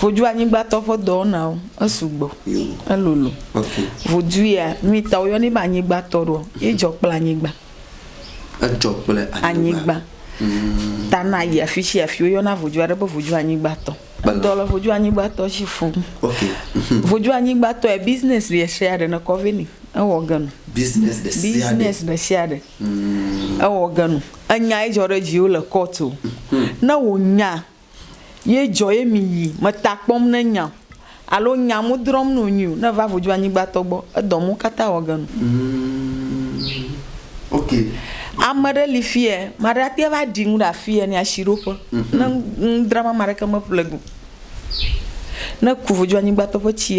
Voduanyigbatɔ ƒe dɔwɔnawo, esugbɔ, elolo. Vodu ya, nui ta woyɔnɛ be anyigbatɔ ɖoa? Ye dzɔ kple anyigba. Edzɔ kple anyigba. Ta na yi afi sia afi woyɔna vodu aɖe be voduanyigbatɔ. Edɔ le voduanyigbatɔ dzi fũ. Voduanyigbatɔ ya, business ɖe sia ɖe nekɔ vɛ nɛ, ewɔ ge nɔ. Business ɖe sia ɖe. Ewɔ ge nu. Enya ye dzɔ ɖe viwo le court o. Ne wò nya ye dzɔ ye mi yi me ta kpɔm ne nya alo nya mu drɔm no nyui o ne va vodzo anyigba tɔ gbɔ edɔ mu kata wɔ ge nu. Ame ɖe li fiye ma ɖe ate va ɖi nu ɖe afiye ne asi ɖo ƒe ne nu dram ame ɖeke me ƒle go ne ku vodzo anyigba tɔ ƒe tsi.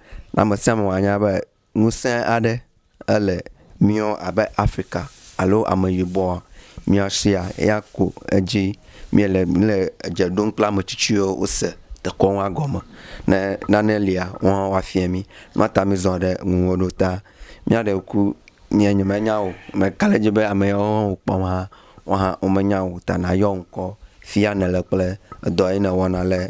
Na ame sia ame wòanya be ŋusẽ aɖe ele míɔ abe Afrika alo Ameyibɔa, mía sia ya ko edzi míele míele edze ɖom kple ame tsitsiwo wose dekɔnua gɔme. Ne nane lia, woawo hã woafia mí. Nua ta mízɔ ɖe ŋuwò ɖo ta. Míaɖe ŋku nye nyemenya wò o. Meka ɖe edzi be ame yawo hã wòkpɔm hã, woawo hã womenya wò o ta nàyɔ ŋkɔ fia nèle kple edɔ yi nèwɔna le.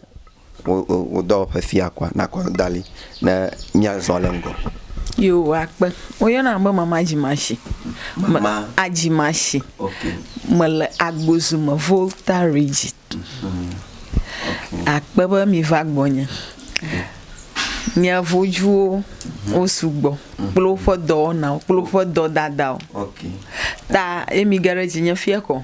wo dɔwɔƒe fia kɔa, nakɔ da ɖi ne míazɔ le ŋgɔ. Yo, akpe. Woyɔna be mama dzimashi. Mama adzimashi. Okay. Mele Agbozu me Volta Region. Mm. Okay. Akpe be miva gbɔnye. Okay. Nye vojuwo mm. wo sugbɔ mm. kple woƒe dɔwɔnawo kple woƒe dɔdadawo. Okay. Ta ye mi ge ɖe dzinye fia kɔ.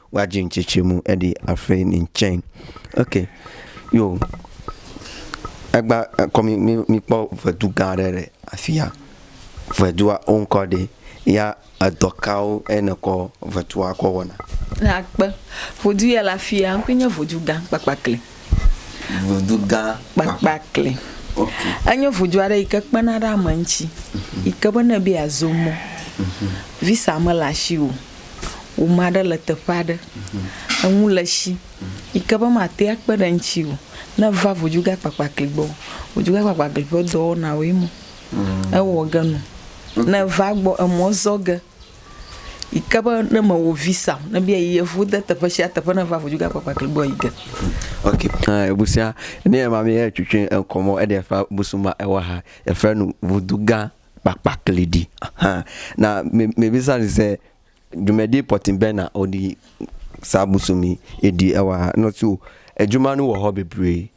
Wa dzi ŋtsi tsi mu eɖi afei ni ŋtsɛn. Ok yo egba kɔ mi mi mi kpɔ ŋedu gã ɖe le afia. Ŋedua wo ŋkɔ ɖe ya edɔ kawo e ne kɔ ŋedua kɔ wɔna? Na kpe. Ŋedu ya le afia ŋkɔe nye ŋedu gã kpakpakli. Ŋuɖugã kpakpakli. Enye ŋudu aɖe yi ke kpena ɖe ame ŋuti yi ke be ne ebe yeazo mɔ, visa mele asiwò o, wò ame aɖe le teƒe aɖe, eŋu le esi yi ke be màte ŋu akpe ɖe eŋuti o, ne èva ŋuɖugã kpakpakli gbɔ, ŋuɖugã kpakpakli ƒe dɔwɔnawoe ma. Ewɔ ge nɔ. Ne èva egbɔ, emɔ zɔ ge. yi ke be ne mewɔ visa o, ne be eyi yevu de teƒe sia teƒe ne va ŋu dzoge akpakpa kli gbɔ yi ge. Ok, eh, busia, ne yɛ ma mi yɛ cucue eŋkɔ mɔ eɖe fa busuma ewa ha, efa nu vudu gã kpakpa kli ɖi. Ahan. Na me me bisa ni se jumɛ di pɔtin bɛ na odi sa busumi edi ewa ha. Nɔ si o, ejuma nu wɔ hɔ bebre.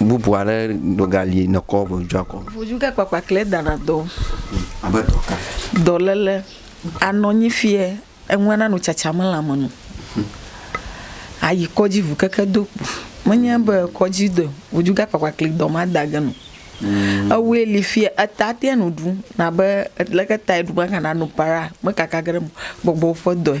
bubu aɖe dogali nɔkɔ ʋudzua kɔ. Ʋudzuke kpakpa kle dana dɔ. Abe dɔ ka? Dɔlele anɔ nyi fiɛ eŋu ana nu tsatsa me le ame nu. Ayi kɔdzi ʋu keke do kpo. Me nye be kɔdzi de ʋudzuke kpakpa kle dɔ ma da ge nu. Ewoe li fiɛ eta ate nu ɖu nabe leke ta eɖu me kana nu para me kaka ge ɖe me gbɔgbɔ ƒe dɔe.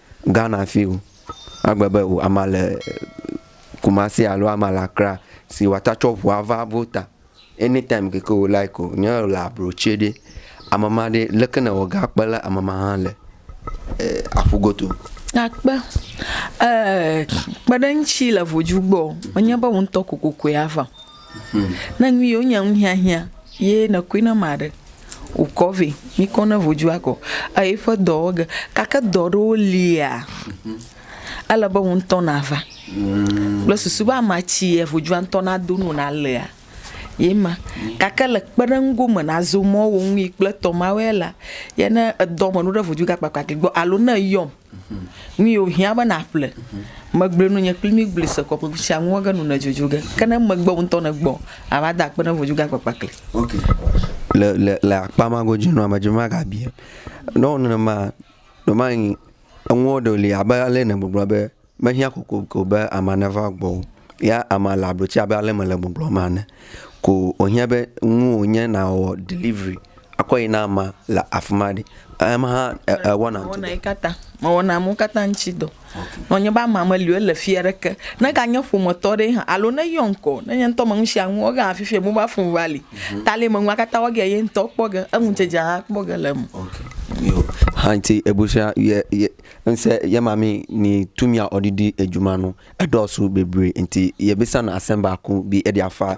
Ghana fi o. Agbe be o ama le Kumasi alo ama le Accra si wata tsɔ ʋua va vota. Any time ke ke o like o. Nye le abro tsɛ ɖe ame ma ɖe leke ne ewɔga akpe le ame ma hã le aƒu goto. Akpe. Kpeɖeŋutsi le vodzu gbɔ. Menye be woŋtɔ kokokoe ava o. Ne nu yewo nya nu hiahiã ye ne koe na ma ɖe wokɔ vɛ mi kɔ ne vodzu akɔ eyi ƒe dɔ wɔ ge gake dɔ ɖewo lia ele be woŋtɔ na va kple susu be ama tsi ye vodzua ŋtɔ na do no na lea ye ma gake le kpeɖeŋu go me na zo mɔ wo ŋui kple tɔ ma wɛ la ye ne edɔ me nu ɖe vodzu gakpakpa ke gbɔ alo ne eyɔm Nu yi wòhiã be nàƒle. Megblɔe nu nye kpli mí gblɔe se kɔ ƒe sia ŋu ege nu nèdzodzo ge. Ke ne megbe wò ŋutɔ nègbɔ ava da akpe ne vodzu gã kpakpa kli. Ok. Le, le, le akpa ma godzi nɔa, medze be magabia. Ne ewɔ nenema, ɖemayi enuwo ɖewo li abe ale nègbɔgblɔ be mehiã kokoko be amea neva gbɔwò. Ya amea le ablotsi abe ale mele gbɔgblɔm ene. Ko wòhiã be nuwò nye nàwɔ delivery akɔ yi na amea le afi ma ɖi. Ema hã ewɔna ŋuti dɔ. Mewɔna ye katã. Mewɔna amewo katã ŋuti dɔ. Nɔ nye be amea meli o, ele fia ɖe ke, ne ganye ƒometɔ ɖe hã alo ne eyɔ ŋkɔ, ne nye ŋutɔ me nusianu wɔ ge hã fifia mobal fon va li. Ta le menua katã wɔ ge ye ŋutɔ kpɔ ge. Eŋu dzedze hã kpɔ ge le eme. Hanti ebusua ye ye ŋse ye ma mi ni tumia ɔdidi ejumanu edɔsu bebri nti ye bisa na asemba ku bi edia fa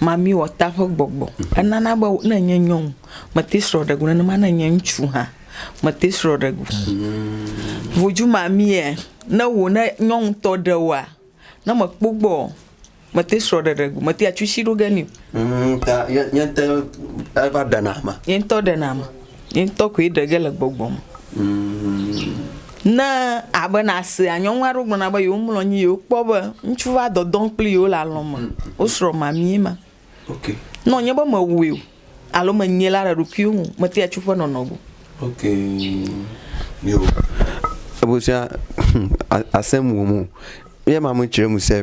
Mamiwɔta ƒe gbɔgbɔ enana be ne nye nyɔnu mete srɔ̃ ɖe go nenema ne nye ŋutsu hã mete srɔ̃ ɖe go. Vodu mamia ne wò ne nyɔnu tɔ ɖe woa ne mekpɔ gbɔ o mete srɔ̃ ɖe ɖe go mete atsi ɖoge nɛ o. Nye ŋutɔ ɖena ame. Ye ŋutɔ koe ɖe ge le gbɔgbɔ me. Ne abe nàsea, nyɔnu aɖewo gblɔna be yewomlɔ anyi, yewokpɔ be ŋutsu va dɔdɔ kpli yewo le alɔ̃ me, wosrɔ̃ mamie ma. Ne wònye be mewɔe o alo menyae la le ɖokuiwò me o, metea tso eƒe nɔnɔ gbɔ. Ebu sia asem wum o. Ye ma me tsre mu se.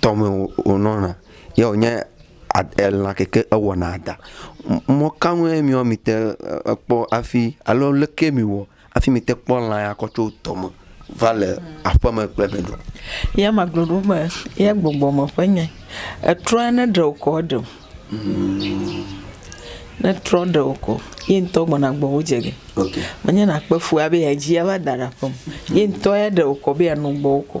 tɔme wònɔna ye wònye elã ke ke ewɔna ɖa. Mɔ ka ŋue mi wɔ mìte kpɔ hafi alo leke mìwɔ hafi mìte kpɔ lã ya kɔ tso tɔme va le aƒeme kple be ɖo? Ye ma gblɔ ɖo be ye gbɔgbɔ me ƒe nye. Etrɔ ya ne ɖe wokɔ eɖe o. Ne etrɔ ɖe wokɔ, ye ŋutɔ gbɔna gbɔ wo dze ge. Menye nakpe fu abe yea dzi ava da ɖe aƒeme. Ye ŋutɔ ya ɖe wokɔ be yeanɔ gbɔ wokɔ.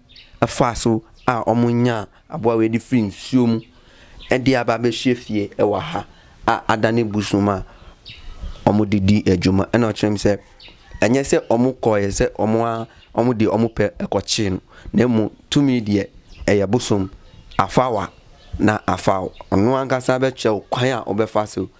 Efa so a ɔmu nya abua wɛ ɖi frin sio mu eɖi aba be sie fie ewa ha a aɖa ne busu ma ɔmu ɖiɖi edzo me enɔ tsrem se enye se ɔmu kɔ ye se ɔmu a ɔmu ɖi ɔmu pe ekɔ tse nu ne mu tumi ɖiɛ eye busum afa wa na afa ɔnua gasa be tsɛ o kɔya ɔbe fa so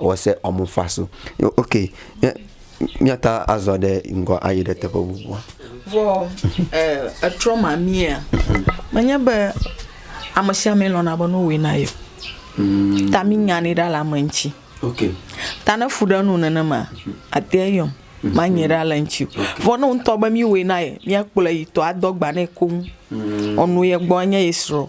Ewɔ se wɔmu fa so. Ok, míata azɔ ɖe ŋgɔ ayi ɖe teƒe bubua. Vɔ etrɔ mamia, menye be ame sia ame lɔ̃na be nowɔe na ye. Hmm. Ta mi nya ni ɖa le ame ŋuti. Ok. Ta ne fu ɖe nu nenema, ate yɔm. Hmm. Ma nye ɖa le ŋuti. Vɔ ne ŋutɔ be mi wɔe na ye, mia kplɔ yi tɔ adɔ gba ne koŋ. Hmm. Ɔnu ye gbɔ nye ye srɔ.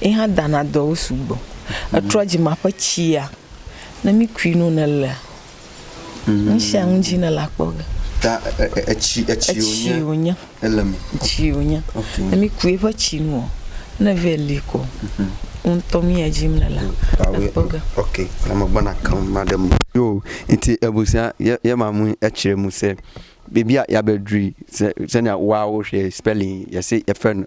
ye hã dana dɔwo sugbɔ. Etrɔ dzima ƒe tsia, ne mi kui nu ne lea, nu sia nu dzi ne le akpɔ ge. Ta etsi etsi wonye ele me. Etsi wonye. Ne mi kui eƒe tsi nu o, ne vɛ li ko, ŋutɔ mi ya dzim ne le akpɔ ge. Ok, na me gbɔna keŋ ma ɖe me. Yo, nti ebu sia ye ye ma mu etsi ɖe mu se. Bibia ya be drui se se ne wa wo hwɛ spelling ye se ye fɛn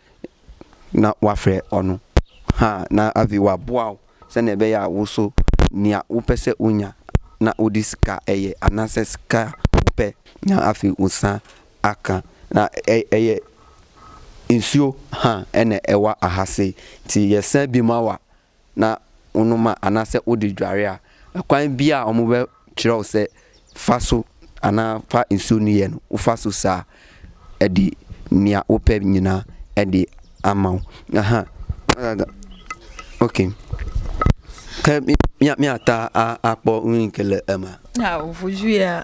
na woaƒle ɔnu hã na avi wòabua wo sene be ya wo so nia woƒe se wonya na woɖi sika eye ana se sika woƒe nya afi wosã aka na eye ŋsuo hã ene ewa ahase ti yese bi ma wa. na wonu ma ana se wodi djuaria ekɔin bia wɔmu be tsrɔ se faso ana fa nsu nu yen wofaso sa edi nia wope nyina edi amao aha agaga ok ke mia mia ta a akpɔ nuyi ke le ema. Ao vuju ya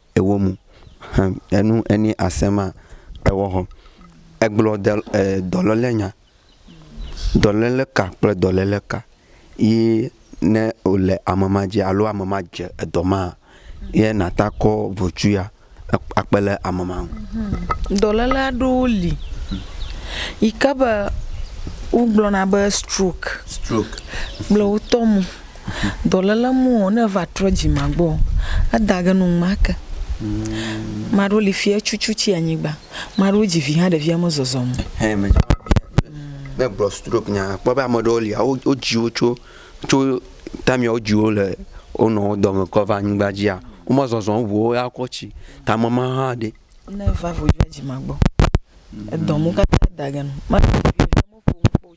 ewɔ mu hã enu eni asema ewɔ hɔ egblɔ de e dɔlele nya dɔlele ka kple dɔlele ka yi ne o le ame ma dzi alo ame ma dze edɔ ma ye na ta kɔ vocu ya akpe le ame ma ŋu. Dɔlele aɖewo li yi ke be wo gblɔ na be stroke stroke kple wotɔ mu. Dɔléle mɔɔ, ne eva trɔ dzima gbɔɔ, eda ge num make. Maa ɖewo li fiɛ cucu tsi anyigba. Maa ɖewo dzi vi hã ɖevia mezɔzɔm o. Hɛn me dzɔna be ne gblɔ stroke nya akpɔ be ame ɖewo lia wo wo dzi wo tso tso time ya wo dzi wo le wo nɔ wo dɔme kɔ va anyigba dzia wo me zɔzɔm ŋu wo ya kɔ tsi tame ma hã ɖe. Ne va vo dzima gbɔ edɔm wo katã da ge num. Maa ɖewo li fiɛ cucu tsi anyigba.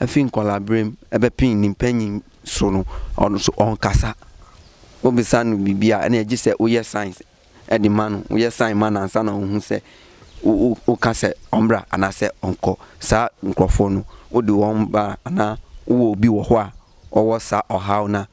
Efi ŋkɔ la brem ebe pin nin pen yin sono ɔn so ɔn kasa. O be sa nu bibia ene edji se o ye signs edi manu o ye sign ma nan sa na o hu se o o o ka se ɔn bra ana se ɔn kɔ sa nkrɔfo nu o di wɔn ba ana o wo bi wɔxɔa ɔwɔ sa ɔha o na.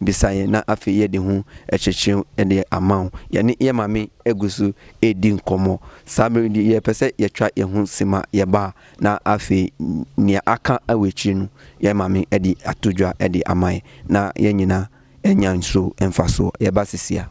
Bisa ye na afi ye ɖi ŋu etsetseo eɖe amao ye ni ye mami egusu e ɖi ŋkɔ mɔ sabiri ɖi ye pese ye tsɔa ye ŋu sima ye ba na afi nia aka ewe tsi nu ye mami eɖi atu djɔa eɖi amae na ye nyina e nya ŋso eŋfa so ye ba sisia.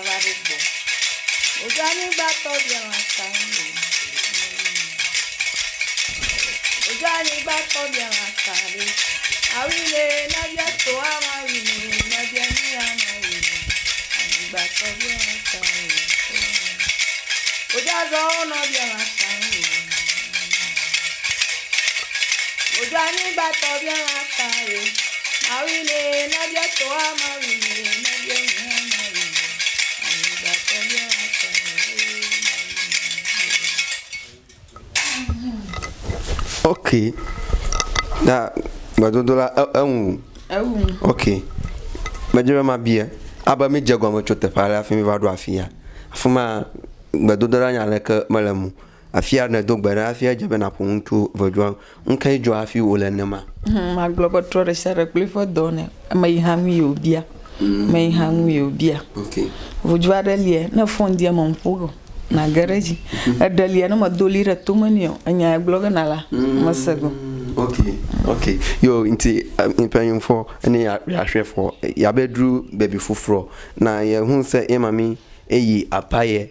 va ɖe gbɔ. Wodo anyigba tɔ bia lã ta ye. Wodo anyigba tɔ bia lã ta ɖe. Awi ne na bia to ama wi ne na bia ni ama wi ne. Anyigba tɔ bia lã ta ye. Wodo azɔ nɔ bia lã ta ye. Wodo anyigba tɔ bia ŋa ta ye. Mawi ne na bia tɔ wa mawi ne na bia ŋa mawi ne. Anyigba tɔ bia ŋa ta ye. Ok. Na gbedodo la e- eŋu. Ewu. Ok. Medze be mabia. Abe mi dze gɔme tso teƒe aɖe hafi mi va ɖo afi ya. Afi ma gbedodoɖa nya leke mele mu. Afia nèdo gbe ɖa hafi edze be nàƒo nu tso ʋedzɔa ŋu. Nu kae dzɔ hafi wòle nenema? Hum, magblɔ be trɔ ɖe sia ɖe kple eƒe dɔ nɛ. Ame yi hã nue wòbia. Ame yi hã nue wòbia. Okay. Ʋudzɔ aɖe lia, ne fon di eme ƒo ge o, nàge ɖe edzi. Eɖe lia, ne medo ʋli ɖe tome nɛ o, enya ye gblɔ ge nàla, mese ge o. Okay, okay. Yo nti ŋkpɛ ŋ fɔ ene ya ya shwɛ fɔ ya be dru bebi fufrɔ na ye hun se ye mami eyi apa ye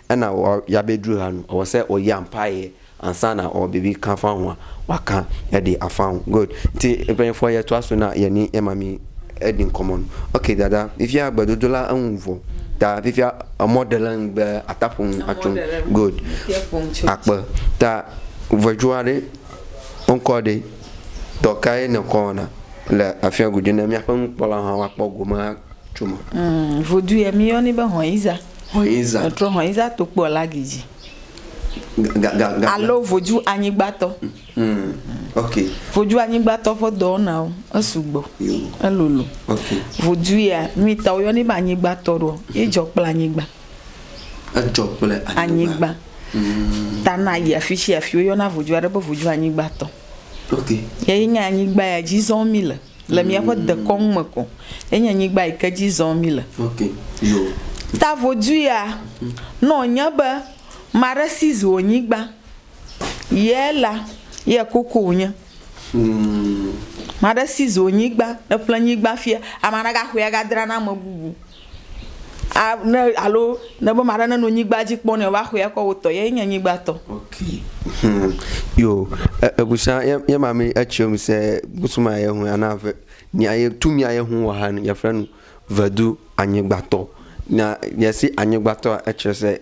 ena ɔ ya be dru ha nu ɔ se ɔ ya ŋpa ye ansa na ɔ be bi kan fa hua wa kan e ɖe afa ŋu good nti e be fɔ ye to aso na ye ni ye ma mi e ɖi ŋkɔ mɔ nu ok dada fifia gbe dodo la eŋu vɔ ta fifia emɔ ɖe le ŋgbe ata ƒo ŋu atso good akpe ta vɔdzua ɖe ŋkɔ ɖe dɔ ka ye ne kɔ na le afia gudu ne mia ƒe ŋkpɔ la hã wa kpɔ gome tso ma. Vodue mi yɔ ni be hɔn iza. Hɔ̃yinza. Etrɔ hɔ̃yinza to kpɔ la gi dzi. Ga, ga, ga, Alo voju anyigbatɔ. Hmm. Ok. Voju anyigbatɔ ƒe dɔwɔnawo, esugbɔ. Yo. Elolo. Ok. Voju ya, nyui ta woyɔnɛ be anyigbatɔ ɖoa, ye dzɔ kple anyigba. Edzɔ kple anyigba. Anyigba. Hmm. Ta na yi afi shi afi woyɔna voju aɖe be voju anyigbatɔ. Ok. Ye nye anyigba ya dzi zɔm mí le. le míaƒe dekɔnu me ko enye nyigba yi ke dzi zɔm míle. Ta vodui ya, ne wònye be ame aɖe seize wò nyigba, ye la, ye koko wònye. Ame aɖe seize wò nyigba, eƒle nyigba fiaa, ame aɖe gaxɔe agadra na ame bubu. a ne alo ne be maɖe ne no nyigba dzi kpɔ ne va xɔe kɔ wotɔ ye nye nyigba tɔ. Ok hmm yo ebusa ye ye ma mi etsi mi se busuma ye hu ana ve mi aye tu mi aye hu wa han ye fenu vedu anyigba tɔ na ye si anyigba tɔ etsi se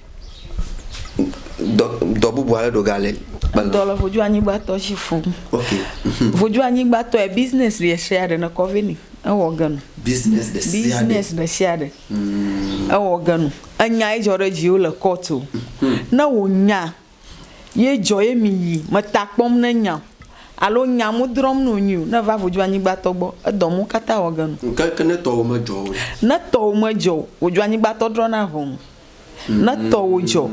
dɔ dɔ bubu aɖe ɖo gale. Edɔ le vodua nyigbatɔ si fum. Ok. Mhm. Vodua nyigbatɔ yɛ business ɖe sia ɖe nekɔ vɛ ni ewɔ ge nu. Business ɖe sia ɖe. Business ɖe sia ɖe ewɔ ge nu. Enya ye dzɔ ɖe dziwo le court o. Mhm. Ne wò nya ye dzɔ ye mi yi me ta kpɔm ne nya o alo nya mu drɔm no nyi o ne va vodzo anyigba tɔ gbɔ edɔ mu kata wɔ genu. Ŋkeke ne tɔwo me dzɔ o. Ne tɔwo me dzɔ o vodzo anyigba tɔ drɔ na ʋɔnu ne tɔwo dzɔ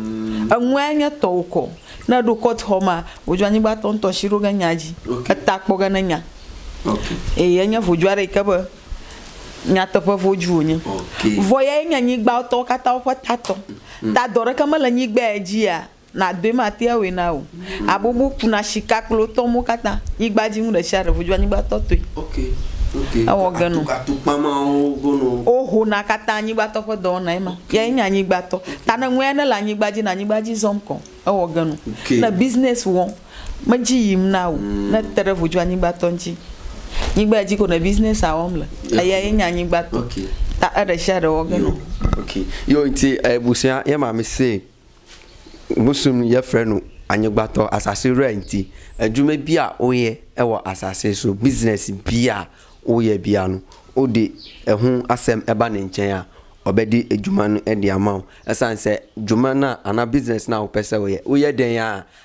eŋu ya nye tɔwo kɔ ne eɖo court xɔ ma vodzo anyigba tɔ ŋtɔ si ɖo ge nya dzi eta kpɔ ge ne nya eye enye vodzo aɖe yi ke be Nyateƒe vodzu wònye. Vɔ yae nye anyigbãtɔwo katã woƒe tatɔ. Ta dɔ ɖeke mele anyigbãe dzia, nàdoe matea awɔe na wò o. Abobo kuna sika kple wo tɔwo katã. Nyigba dzi nu ɖe sia ɖe vodzu anyigbãtɔ tɔe. Ewɔ ge nɔ. Wohona katã anyigbãtɔ ƒe dɔwɔnae ma. Yae nye anyigbãtɔ. Ta ne nua ɖe le anyigba dzi na anyigba dzi zɔm kɔ. Ewɔ ge nɔ. Ne business wɔm. Medzi yim na wò ne te ɖe ʋu dzoanyigbatɔ ŋuti. Nyigba ya dzi ko nɔ business-a wɔm le. Eya ye nye anyigbatɔ. Ta eɖeshiaɖe wɔ ge nɔ. Yo ŋti e busuia ye ma mi se busun ye fre nu anyigbatɔ asase rɛ ŋti. Eju me bia wo ye ewɔ asase so business bia wo ye bia nu. O ɖe ehun asem eba ne ŋtsɛ ya ɔ be ɖe eju ma nu eɖe ama o. Esan se ju ma na ana business na wo pɛsɛ wo ye. Wo ye ɖe ya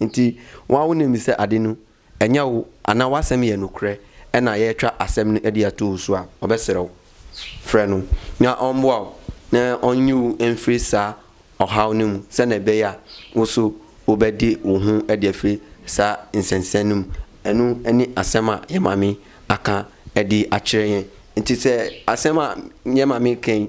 Ŋti wan wo ne mi se aɖi nu enyɛ wo ana wa sem yɛ nu krɛ ena yɛ tra asem nu eɖi etu wo sua wo be srɛ wo frɛ nu nya ɔn bua wo ne ɔn nyi wo en fri sa ɔ ha wo ne mu se ne be ya wo so wo be ɖi wo hu eɖi efri sa ŋsɛnŋsɛn nu mu enu eni asem a yɛ mami akan eɖi a tsre yɛ ŋti se asem a yɛ mami keŋ.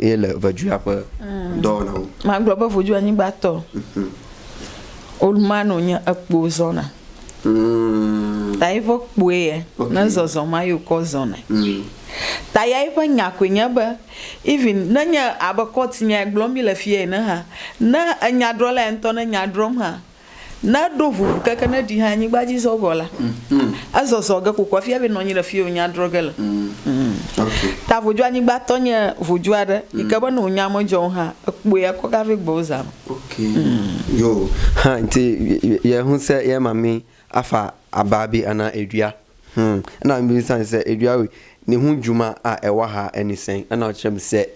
Ye le ʋedzua ƒe dɔwɔnawo. Magblɔ be ʋedzua nyigba tɔ. Old man o nye ekpo zɔna. Ta ye ƒe kpoe ye ne zɔzɔ ma yo kɔ zɔna. Ta ya ye ƒe nya koe nye be even ne nye abe court nya gblɔm mi le fia ene ha ne enyadrɔla ya ŋtɔ ne nya drɔm ha Ne eɖo ʋuʋu keke ne ɖi hã anyigba dzi zɔ gɔ la, ezɔzɔ ge kokoko efia be nɔ anyi le fi yi wonya drɔ̃ ge le. Ta vodzoanyigba tɔ nye vodzo aɖe yi ke be ne wonya medzɔ o hã, ekpɔe ekɔ ga ve gbɔwò zã me. Yo hã nti ye ŋu se ye ma mi afa aba bi ana eɖuia. Hm, ena mi bisa ni se eɖuia wi ni ŋu ju ma a ewa ha eni se ena ɔtse mi se.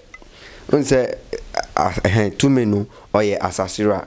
Ŋu se a ehe tu me nu ɔye asasira.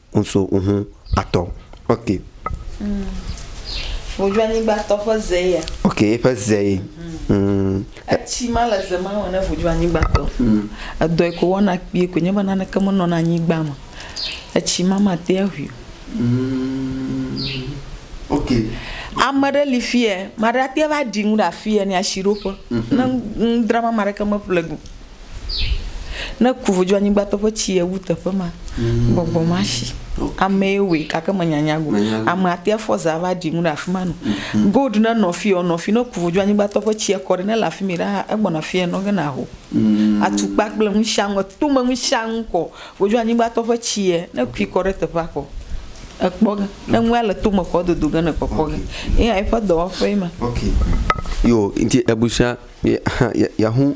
ŋso ŋu atɔ. Ok. Mm. Wòdzɔ anyigbatɔ ƒe ze ya. Ok, eƒe ze. Mm. Etsi ma le ze ma me ne wòdzɔ anyigbatɔ. Mm. Edɔe ko wɔna kpie ko nye be naneke menɔna anyigba me. Etsi ma mate aʋui o. Mm. Ok. Ame ɖe li fie, ame ɖe ate va ɖi nu ɖe afie ne asiɖoƒe. Mm -hmm. Ne ŋdra ma, ame ɖeke meƒle go. Ne ku vodzo anyigbatɔ ƒe tsi ye wu teƒe ma, mm. gbɔgbɔ ma si. Amee wòe gake menyanya go. Ame atea fɔ zã va ɖi nu ɖe afi ma no. Mm-hmm. Gold ne nɔ fi ɔ nɔ fi ne ku vodzo anyigbatɔ ƒe tsi ekɔ ɖe ne le afi mi ɖaa egbɔna fi enɔ ge na ho. Mm. Atukpa kple nu sia nu tome nu sia nu kɔ vodzo anyigbatɔ ƒe tsi ye ne kui kɔ ɖe teƒea kɔ ekpɔ ge ne nua le tome kɔ dodo ge ne kpɔkpɔ ge. Eya eƒe dɔwɔƒe ma. Okay. Yo nti ebusia ya ya hu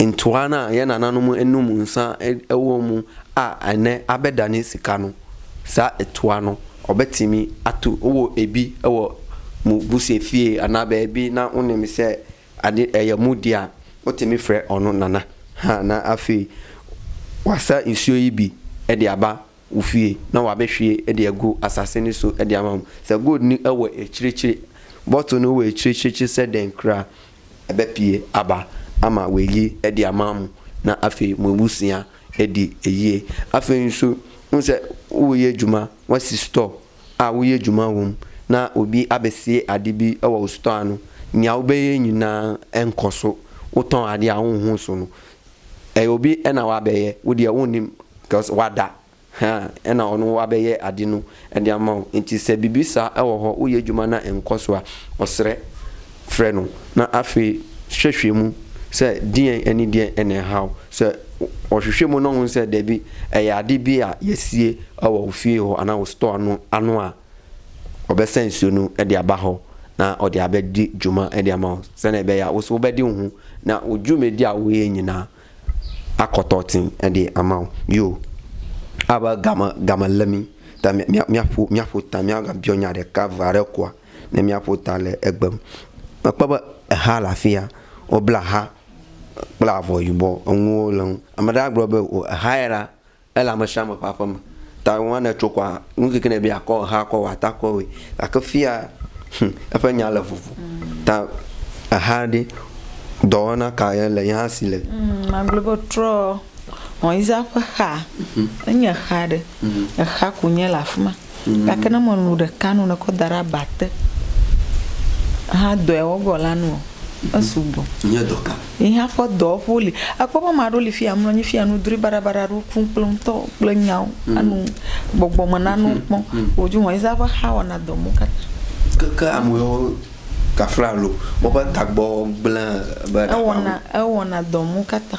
Ŋutsua na ye nana nu mu enu mu ŋsa ewo mu a ene abe ɖani sika nu sa etua nu ɔbe timi atu owo ebi ewɔ mu buse fie ana be ebi na wo ne mi se ade eye mu dia wo timi fre ɔnu nana ha na afi wa sa ŋsio yi bi edi aba ufie na wa be fie eɖi ego asase ni so eɖi ama mu se gold ni ewe etsretsre bɔto ni we etsretsre se ɖen kra ebe pie aba ama we li eɖi ama mu na afe mu ebu sia eɖi eyie afe ni so nu se wo ye juma wa si store a wo ye juma wom na obi abe sie aɖi bi ewa wo store anu nya wo be ye nyi na enkɔ so wo tɔn aɖi a wo ho so nu. Eye wobi ena wa be ye wudi ewu nim cause wa da ha ena ɔnu wa be ye adi nu edia ma o nti se bibi sa ewɔ hɔ u ye juma na enkɔ sua ɔsre fre nu na afi hwehwe mu se die eni die ene ha o se ɔhwehwe mu nɔŋu se debi eya di bi a ye sie ewɔ u fie ho ana u store anu anua. Ɔbe sɛn sio nu eɖi abaxɔ na ɔɖi abe di juma eɖi amao sɛn ebe ya woso be di ŋu na oju me di awo ye nyina akɔtɔ tin eɖi amao yo abe game game le mi ta mia mia ƒo mia ƒo ta mia ga biɔ nya ɖeka va ɖe kua ne mia ƒo ta le egbe me mekpɔ be eha le afia wobla ha kple avɔ yibɔ enuwo le ŋu ame ɖe agblɔ be o eha ya la Ele amesiame ƒe aƒeme. Ta ŋua ne etso kɔa, nu keke ne ebia kɔ eha kɔ wɔ ata kɔ wɔe. Gake fia, hum, eƒe nya le vovo. Ta eha ɖe, dɔwɔna ka ye le yehã si le? Hum, magblɔ be trɔ Moisea ƒe xaa. Enye exa ɖe. Exa ko nye le afima. Gake ne mèlũ ɖeka nu nèkɔ da ɖe aba te hã dɔe wɔgɔ la nua? Esugbɔ. Nye dɔ ka? Yi hã ƒe dɔwo ƒe woli. Èkpɔ be ame aɖewo li fiya mlɔ anyi fiya nu drui baɖabaɖa aɖewo kum kple ŋutɔ kple nyawo anu gbɔgbɔ me nanewo kpɔm. Wò dzi wɔe zã ƒe xa wɔna dɔ mɔ katã. Keke amewo kafla alo woƒe tagbɔ gblẽ be ɖaʋa ŋu. Ewɔna dɔ mɔ katã.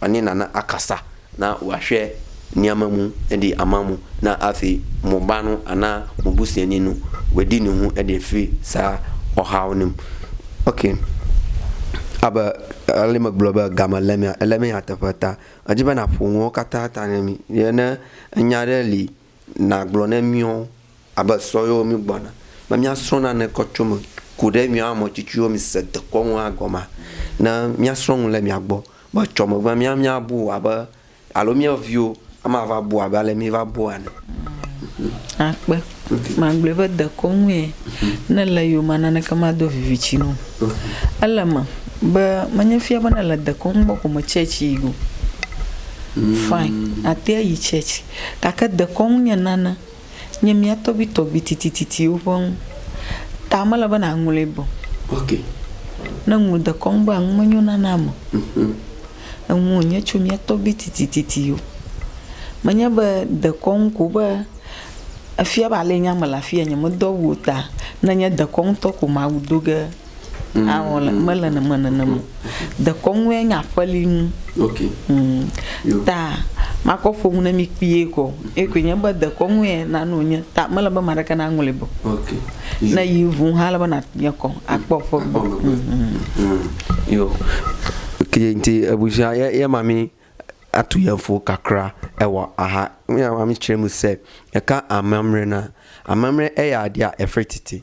Ani nana akasa na wahwɛ niame mu edi ama mu na afi mo ba nu ana mo busiɛ ni nu wedi ni hu edi fi sa ɔhao nim. Ok. Abe ale me gblɔ be game le mea, ele me nyateƒe ta. Edzi be na ƒo nuwo kata ta ne mi. Ye ne enya ɖe li. Nàgblɔ ne míwo abe sɔ yewo mígbɔna be míasrɔ̃ nane kɔ tso eme ku ɖe míawo ame tsitsiwo mise dekɔ ŋu agɔmea? Ne míasrɔ̃ nu le mia gbɔ be etsɔ megbea, mía míabu abe alo mía viwo ama va bu abe ale míva bua ene. Akpe. Magblɔe be dekɔnue ne le yoma naneke mado viviti na wò. Ele eme be menye fia be nèle dekɔnu bɔ ko me church yi o. Fine, àte ayi church. Gake dekɔnu nye nane, nye mía tɔgbuitɔgbui titititiwo ƒe nu ta mele be nàŋlɔe be o. Ne ŋlɔ dekɔnu be enu menyo nane ame o. Enu wònye tso mía tɔgbuitɔgbui titititiwo. Menye be dekɔnu ko be efia be ale nye ame le afia nyemedɔ awu o ta, ne nye dekɔnutɔ ko mawu do ge. Awɔle mele nene nenem o. Dekɔnu ye nye aƒeli nu. Ok. Ŋm. Yo. Ta makɔ ƒo nu ne mi kpuie kɔ. Ekɔe nye be dekɔnu ye nane wonye ta mele be ame aɖeke naŋlɔe be o. Ok. Ne yi ŋu hã ele be na nye kɔ akpɔ ƒe gbɔ. Akpɔ megbe. Ŋm. Yo. Ok nti ebushia ye ye ma mi atu ye fo kakra ewa aha ŋya ma mi tsre mu se eka amamre na. Amamre eya dia efre titi.